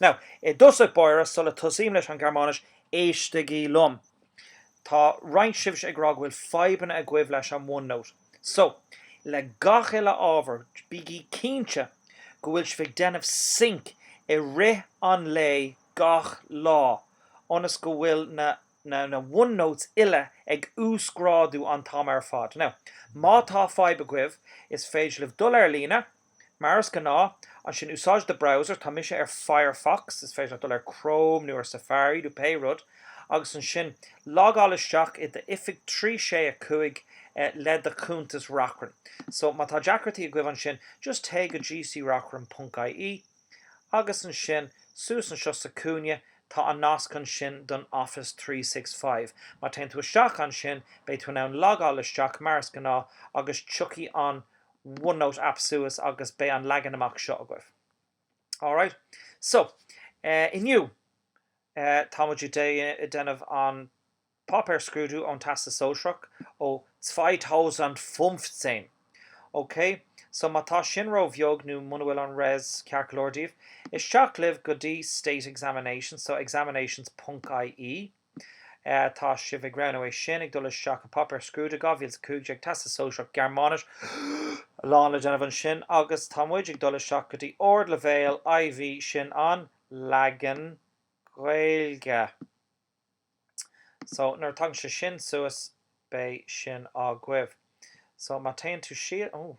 Now, i dtosach báire, sula tosaím leis an Ghearmáinis, éistigí liom. Tá roinnt sibhse ag rá go bhfuil fadhbanna agaibh leis an OneNote. So, le gach uile ábhar, bígí cinnte go bhfuil sibh ag déanamh sync i rith an lae gach lá ionas go bhfuil na na na OneNotes uile ag uasghrádú an t-am ar fad. Now, má tá fadhb agaibh, is féidir libh dul ar líne, Mar is gnáth, ansin, úsáid do browser, tá mise ar Firefox, is féidir leat dul ar Chrome nó ar Safari nó pé rud, agus ansin logáil isteach i d'oifig trí sé a cúig le do chuntas Reachrann. So, má tá deacrachtaí agaibh ansin, just téigh go GCReachrann ponc IE agus ansin suas anseo sa cúinne tá an nasc ansin don Office Three Six Five. Má téann tú isteach ansin, beidh tú in ann logáil isteach mar is gnáth agus tiocfaidh an OneNote app suas agus beidh an leagan amach seo agaibh. Alright. So, inniu, tá muid ag déanamh an páipéar scrúdú ón Teastas Sóisearach ó 2015. Ok? So, má tá sin róbheag nó muna bhfuil an Res ceart go leor daoibh, isteach libh go dtí State Examinations, so examinations ponc IE. Tá sibh ag roghnú é sin, ag dul isteach i páipéar scrúdaithe 2015, Teastas Sóisearach Gearmáinis, a lán le déanamh ansin, agus tá muid ag dul isteach go dtí Ardleibhéal IV sin an leagan Gaeilge. So, nuair a tagann sé sin suas, beidh sin agaibh. So, má téann tú síos, oh.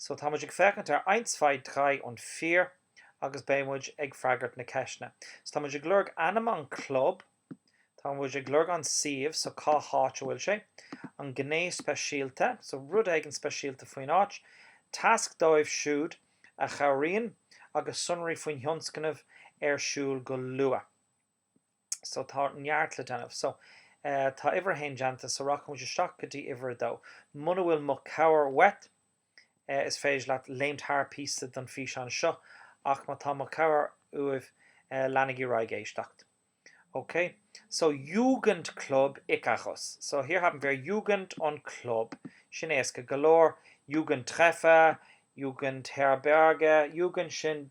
So tá muid ag féachaint ar eins, zwei, drei und vier agus beidh muid ag freagairt na ceisteanna. So tá muid ag lorg ainm an club, tá muid ag lorg an suíomh, so cá háit a bhfuil sé, an gné speisialta, so rud éigin speisialta faoin áit, tasc dóibh siúd a chabhraíonn agus sonraí faoin thionscnamh ar siúl go luath. so tá neart le déanamh. So tá uimhir a haon déanta, so rachaidh muid isteach go dtí uimhir a dó. Muna bhfuil mo cabhair uait, is féidir leat léimt thar píosa den físeán seo, ach má tá mo cabhair uaibh, leanaigí ar aghaidh ag éisteacht. Ok, so Jugendclub Ikarus. So hier haben wir Jugend und Club. Sin éasca go leor. Jugendtreffer, Jugendherberge, Jugend sin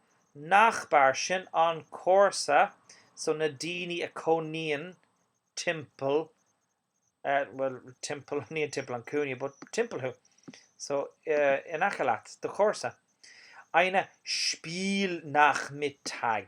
Nachbar sin an comharsa so na daoine a cónaíonn timpeall, bhuel, timpeall, ní an timpeall an cúinne, but timpeall thú, so in aice leat do chomharsa, eine Spielnachmittag,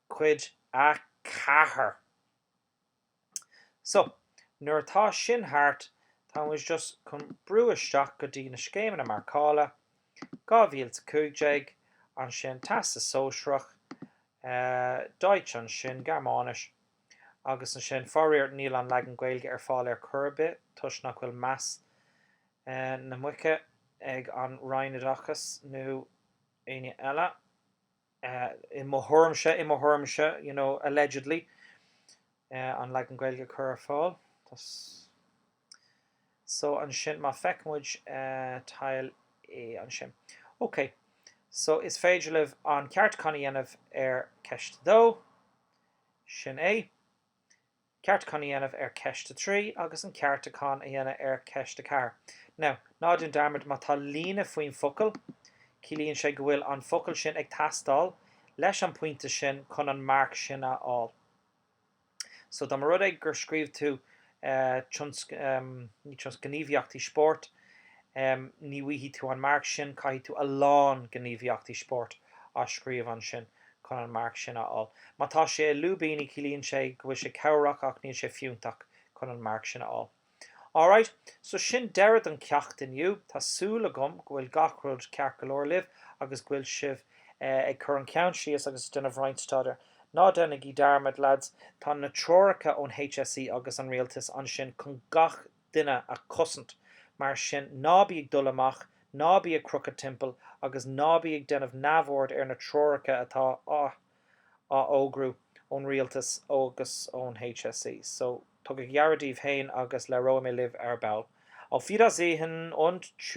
Cuid 4 So, nuair atá sin thart, tá muid just chun brú isteach go dtí na scéimeanna marcála, 2015, ansin Teastas Sóisearach, Deutsch ansin, Gearmáinis, agus ansin, faraor, níl an leagan Gaeilge ar fáil ar chor ar bith toisc nach bhfuil meas na muice ag an Roinn Oideachais nó éinne eile. i mo thuairimse, i mo thuairimse you know allegedly an leagan Gaeilge a chur ar fáil so ansin má feic muid Teil E ansin ok so is féidir libh an ceartúchán a dhéanamh ar ceist 2 sin é ceartúchán a dhéanamh ar cheist a trí agus an ceartúchán a dhéanamh ar cheist a ceathair. Now, ná déan dearmad, má tá líne faoin bhfocal, ciallaíonn sé go bhfuil an focal sin ag teastáil leis an bpointe sin chun an marc sin a fháil. So, dá mba rud é gur scríobh tú ní tionsc, gníomhaíochtaí spóirt, ní bhfaighidh tú an marc sin, caithfidh tú a lán gníomhaíochtaí spóirt a scríobh ansin. chun an marc sin a fháil. Má tá sé i lúibíní ciallaíonn sé go bhfuil sé cabhrach ach níl sé fiúntach chun an marc sin a fháil. Alright, so sin deireadh don cheacht inniu. Tá súil agam go bhfuil gach rud ceart go leor libh agus go bhfuil sibh ag cur an ceann síos agus ag déanamh roinnt staidéir. Ná déanaigí dearmad, leaids, tá na treoracha ón HSE agus an Rialtas ansin chun gach duine a chosaint. Mar sin, ná bí ag dul amach, ná bí ag crochadh timpeall agus ná bí ag déanamh neamhaird ar na treoracha atá á fhógrú ón Rialtas agus ón HSE. So, tugaigí aire daoibh féin agus labhróidh mé libh ar ball. Auf Wiedersehen und.